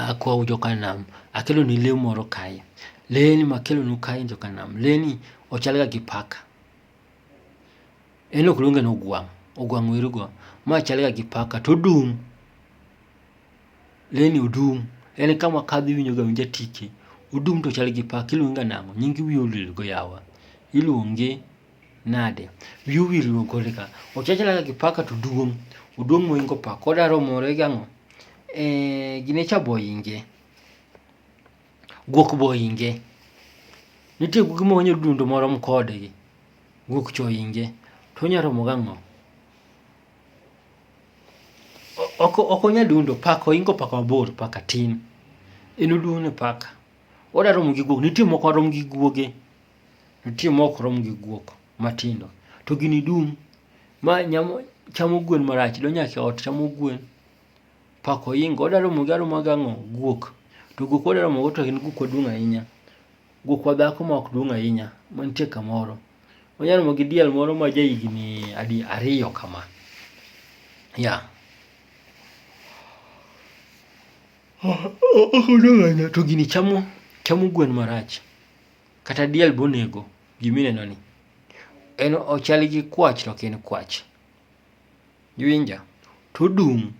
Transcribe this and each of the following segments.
Akwaou joka nam, akelonu lee moro kae. Lee ni makelonu kae joka nam, lee ni ochalga gi paka. En ok luonge ni ogwang', ogwang' weru go. Ma chalga gi paka to odung', lee ni odung'. En kama kadho iwinjoga awinja tike, odung' to chal gi paka. Iluonge ga nang'o? Nyinge wiye olil go yawa, iluonge. nade? Wiyi owil luong kode ka. Ochachala kaka kipaka to duong'. Oduong' moingo paka. Koda romore gi ang'o? Eh, gine cha boinge. Guok boinge. Nitie guogi ma wanyo dundo morom kodgi. Guok choinge. To onya romo gang'o? Ok ok onya dundo paka oingo paka mabor paka tin. En oduong' ne paka. Oda romo gi guok. Nitie moko rom gi guoge. Nitie ma ok rom gi guok matindo, to gini dum. Ma nyamo chamo gwen marach, donjo nyaka e ot chamo gwen, pako ohinga. Odwa romo gi aroma gi ang'o? Guok. To guok odwa romo go to en guok maduong' ahinya. Guokwa dhako ma ok duong' ahinya, mantie kamoro. Onya romo gi diel moro ma ja higni adi, ariyo kama. Yeah. To gini chamo, chamo gwen marach. Kata diel bonego gima ineno ni. En ochal gi kwach to ok en kwach. Iwinja? To odum.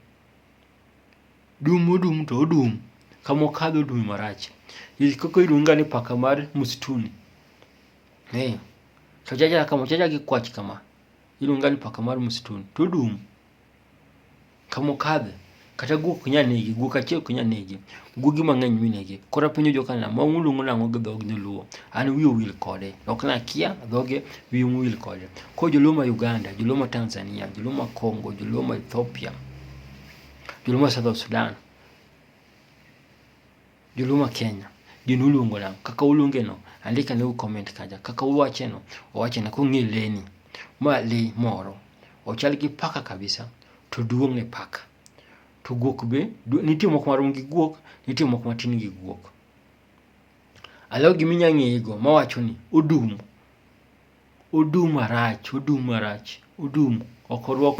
Dum odum to odum. Kama okadho odum marach. Koko iluonge ga ni paka mar msituni. Ee. To chachal gi kwach kama. Iluonge ga ni paka mar msituni. To odum. Kamokadhe, kata guok ok nyal negi, guok achiel ok nyal negi, guogi mang'eny minegi. Koro apenjo joka nam, ma uluongo nang'o gi dhog joluo? An wiya owil kode, ok nakia dhoge, wiya owil kode. Koro joluo ma Uganda, joluo ma Tanzania, joluo ma Congo, joluo ma Ethiopia, joluo ma Southern Sudan, Joluma Kenya gino uluongo nang' kaka uluongeno andika ne u comment kaja kaka uwacheno owachena kong'e leni ma le moro ochal gi paka kabisa to duong' ne paka to guok be nitie moko marom gi guok nitie moko matin gi guok alaw gima inya ng'eyego mawacho ni odum odum marach odum marach odum ok orwak